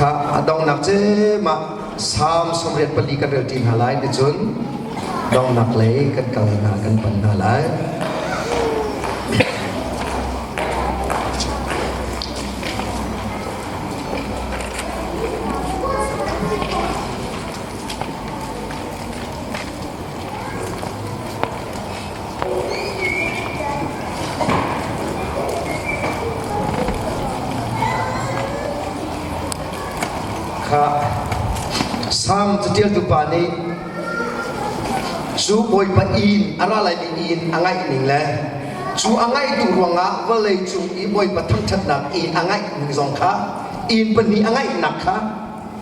Kha a donghnak cem ah Salm sawmriat pali kan relṭi hna lai nicun donghnak lei kan kal hna kan pan hna lai. Kha Salm catialtu pa nih cu Bawipa inn a ra laimi inn a ngaihning le cu a ngaihtu ruangah vawlei cung i Bawipa thangṭhatnak inn a ngeih ning zong kha inn pahnih a ngeihnak kha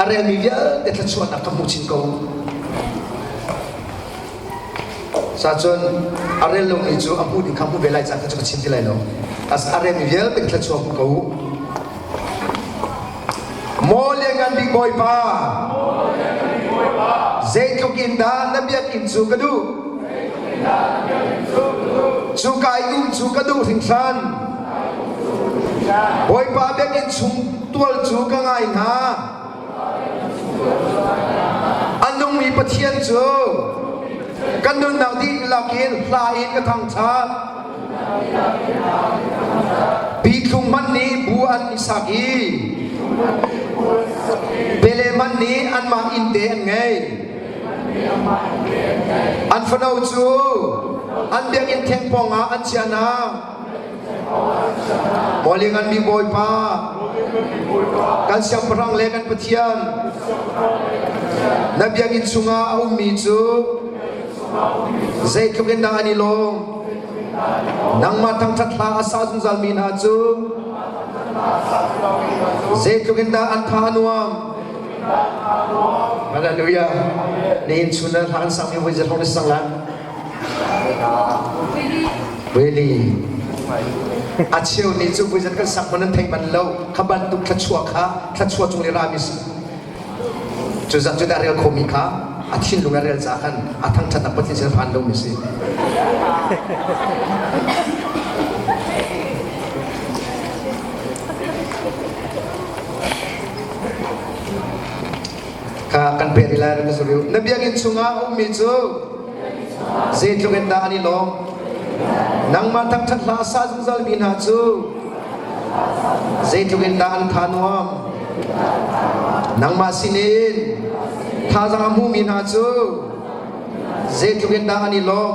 a relmi vialte thluachuahnak ka hmu chin ko sacun a rel lomi cu a hmuh ding kha hmuh ve lai caan kha cu ka chin ti lai lo as a relmi vialte thluachuah hmu ko maw liangan bik bawipa zeitluk in dah na biakinn cu ka duh cu kai um cu ka duh hringhran bawipa biakinn chung tual cu ka ngai hna. A nungmi Pathian cu kan nunnak dihlak in hla in ka thangṭhat. Bithlung hmanh nih bu an i sak i bele hmanh nih anmah innte an ngei. An fano cu an biakinn theng pawngah an chiahnak Bawi ngan mi Bawipa kan siangpahrang le kan Pathian na biakinn chungah a ummi cu zeitluk in dah an i lawm nangmah thangṭhat hla a sa zungzalmi hna cu zeitluk in dah an tha a nuam Hallelujah. Ni in chun hla kan sang mi voi zet hong ni sang lan. Really? A cheu nih cu vui zat kan sak man an thei man lo kha bantuk thluachuah kha thluachuah chung le ra mi si cu zat cu da rel khomi kha a thinlung a rel caah khan a thangthat a pathin sin phan lo mi si kha kan peh ti lai ka suril na biakinn chungah a ummi cu zeitluk in dah an i lawm nangmah thangṭhat hla sa zungzalmi hna cu zeitluk in dah an tha nuam nangmah sin in thazang a hmumi hna cu zeitluk in dah an i lawm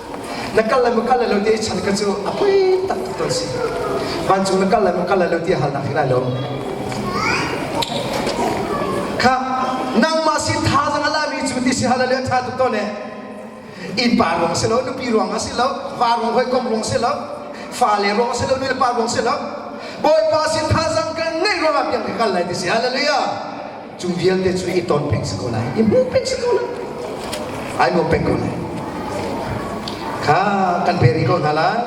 na kal le ma kal le lo ti chan ka cu a poi tak tuk ton si vancung na kal le ma kal le lo ti hal nak hi lai lo kha nangmah sin tha zang ala mi cu ti si hallelujah tha tuk ton ne in pa ruang si lo nupi ruang si lo va ruang hoi kom ruang si lo fa le ruang si lo nu le pa ruang si lo bawipa sin tha zang kan nei ruang ah piang ka kal lai ti si hallelujah Cu vialte cu i ton peng si ko lai. I hmuh peng si ko lai. Ai nuam peng ko lai. Kha kan pe rih ko hna lai.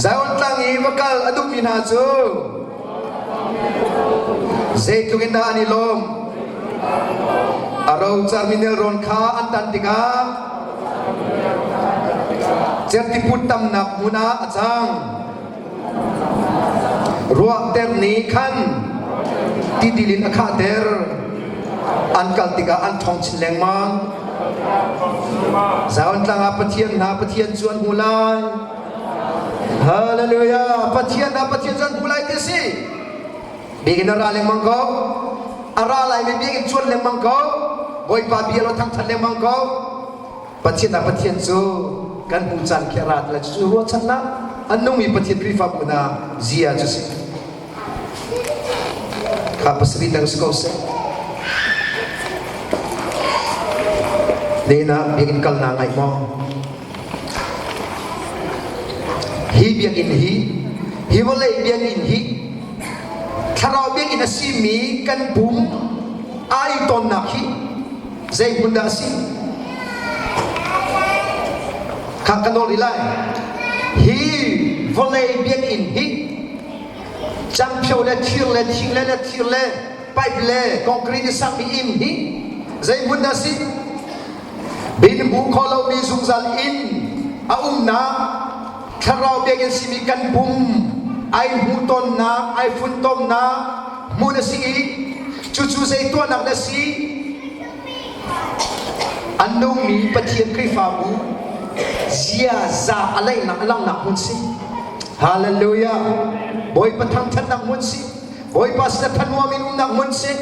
Zion tlang i va kal a duhmi hna cu zeitluk in dah an i lawm. A rocarmi nelrawn kha an tan tikah certiput tamnak hmun ah a cang. Ruahter nih khan titil in a khahter. An kal tikah an ṭhawng chin lengmang. Zion tlang ah Pathian hna Pathian cu an hmu lai. Hallelujah! Pathian hna Pathian cu an hmu lai ti a si. Biakinn a ra lengmang ko. A ra laimi biakinn cuan lengmang ko. Bawipa bia lo thangṭhat lengmang ko. Pathian ah Pathian cu kan hmuh caan khi a ra lai cucu ruahchannak an nungmi Pathian Khrihfa phu hna zia cu si. Kha pasarih dang si ko seh. Nena biakinn kalna ngai maw? Hi biakinn hi hi vawlei biakinn hi thlarau biakinn a simi kan pum ai tonnak hi Zei hmun dah a si? Kha ka nawl rih lai. Hi vawlei biakinn hi cangphio le thir le thing le le thir le pipe le concrete sakmi inn hi zei hmun dah si? Bin hmu kho lomi zungzal inn a umnak thlarau biakinn simi kan pum ai hmu tonnak ai funtomnak hmuh na si i cucu zei tuahnak na si an nungmi Pathian Khrihfabu ziaza a leihnak langhnak hmun si hallelujah bawipa thangthatnak hmun si bawipa si thanhuam in umnak hmun si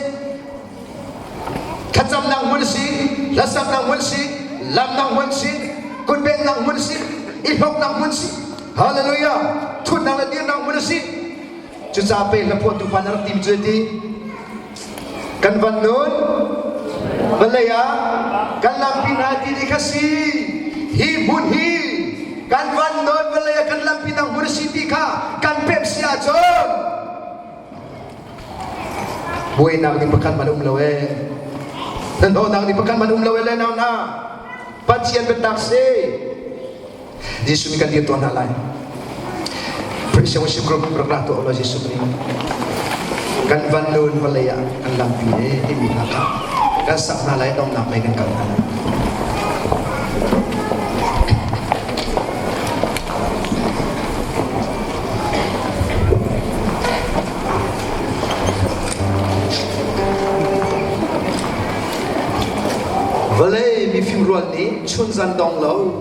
thlacamnak hmun si hlasaknak hmun si lamnak hmun si kunbennak hmun si i hloknak hmun si hallelujah thutnak le dirnak hmun si Cucaah pe hla phuahtu pa na rak tim cu ti kan van nun vale ah kan lam pin ah ti ni kha si hi hmun hi kan van nun vale ah kan lam pin ang hmun si ti kha kan pep si ahcun buainak ni pakhat man um lo e nan thawhnak ni pakhat man um lo e le nau na pathian biatak si Jesuh nih kan dir tuah hna lai. Worship Group rak ra tuah law Jesuh Khrih. Kan van nun vawlei ah kan lampi le timi hna kha kan sak hna lai donnak lei kan kal hna lai. Vale mifim rual nih chun zan dong lo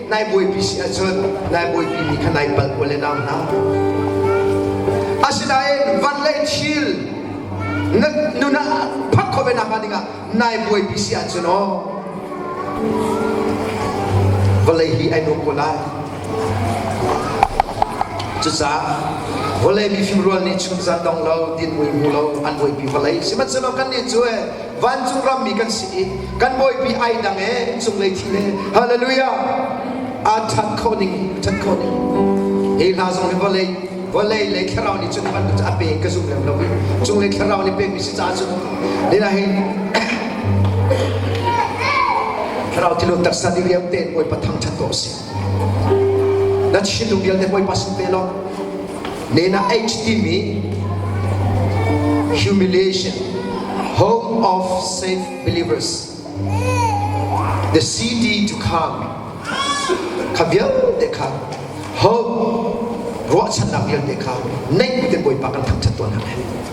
Nai buaipi si ahcun nai buaipi mi kha nai palh u le nau hna. Asinain van le thil na nun ah phak khawve nak ding ah nai buaipi si ahcun aw vawlei hi ai nu ko lai. Cucaah vawlei mifim rual nih chung zan dong lo din mui mu lo an buaipi vawlei sihmanhsehlaw kan nih cu eh vancung rammi kan si i kan bawipi ai dang e cunglei thi le hallelujah aa that kho ning that kho ning hi hna zong hi vawlei vawlei le thlarau nih cun van a pe ka zum lem lo i cunglei thlarau nih pek mi si caah cun nina hi thlarau ti lo taksa di liam tein bawipa thang chan to si Na chinlung vialte Bawipa sin pe law ne na age timi humiliation home of safe believers the city to come kha vialte kha home ruahchannak vialte kha neih te Bawipa kan thangchat tuan hang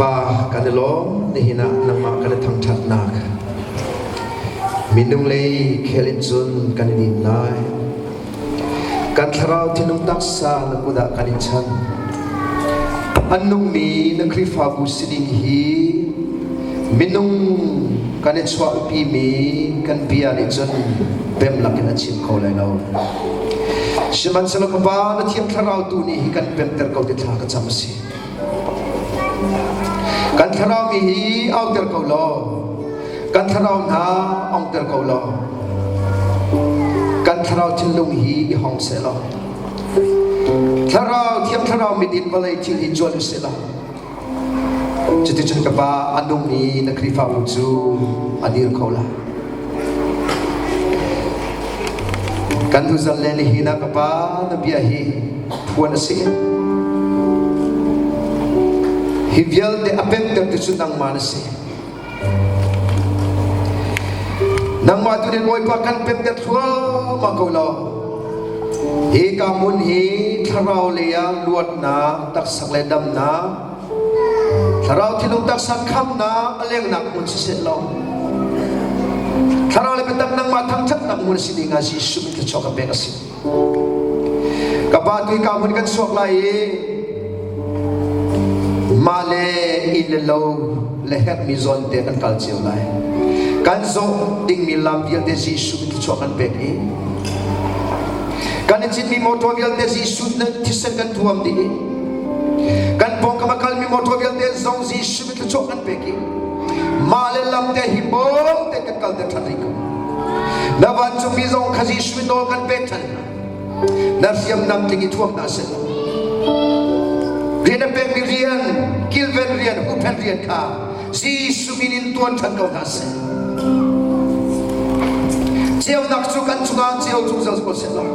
pa kan i lawm nihin ah nangmah kan i thangṭhatnak minung lei khel in cun kan i dim lai Kan thlarau thinlung taksa na kut ah kan i chan. An nungmi na Khrihfabu sining hi minung kan i chuahpimi kan bia nih cun bem lakin a chim kho lai lo. Sihmanhsehlaw Baba na thiang thlarau tu nih hi kan bemter ko ti thla ka cam a si. Kan thlarau mi hi auter ko law kan thlarau hna ongter ko law kan thlarau thinlung hi i hong se law thlarau thiam thlarau midin vawlei thil hi cuan u se law cuti cun ka pa a nung i na khrihfabu cu a dir ko lai Kan nuzal le nihin ah ka pa na bia hi phuan a si. Hi vialte a pemter tu cu nangmah na si. Nangmah tu nih Bawipa kan pemter thluahmah ko lo. Hi ka mun hi thlarau lei ah luatnak, taksak le damnak Thlarau thinlung taksa khamnak a lengnak hmun siseh law Thlarau le biatak nangmah thangṭhatnak hmun si ding ah Jesuh min thluachuah ka pek a si. Ka pa tu ka hmun kan suak lai i mah le inn le lo le herhmi zawn te kan kal cio lai. Kan zawh dingmi lam vialte Jesuh min thluachuah kan pek i kan i citmi motor vialte Jesuh thisen kan thuam dih i kan pawngkam a kalmi motor vialte zong Jesuh mit thluachuah kan pek i mah le lam te hi bawm te kan kal te ṭhan rih ko na vancungmi zong kha Jesuh mit nawl kan pek ṭhan na hriamnam tling i thuam hna seh rian a pekmi rian kilven rian huhphenh rian kha Jesuh min in tuan ṭhan ko hna seh. Ceunak cu kan cungah ceu zungzal ko seh law.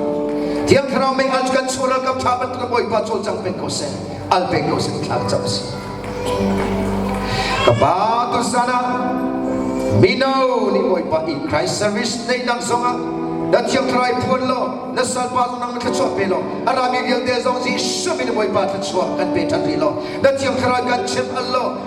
Thiang Thlarau mei al cu kan sual ralkap ṭha bantuk Bawipa cawlcang cang pen ko seh. Al pen ko seh thla cam si. Ka ba tu sana mino ni Bawipa in Christ service nei dang zongah na thiang thlarau phuan law na salpa zong nang thla chuah pe law arami vialte zong Jesuh min Bawipa thla chuah kan pe ṭhan rih law na thiang thlarau kan chim al law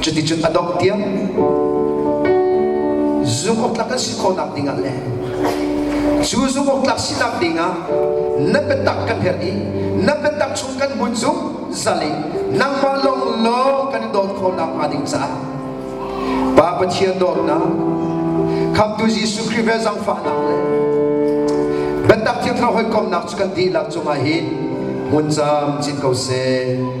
Cuticun a dongh tiang zungawktlak kan si khawhnak dingah le cu zungawktlak sinak dingah na biatak kan herh i na biatak chung kan hmun cu zal i nangmah lawnglawng kan i dawt khawhnak hnga ding caah Pa Pathian dawtnak Khamtu Jesuh Khrih ve zangfahnak le biatak thil thar hawikomnak cu kan dihlak cungah hin hmunzam cin ko seh.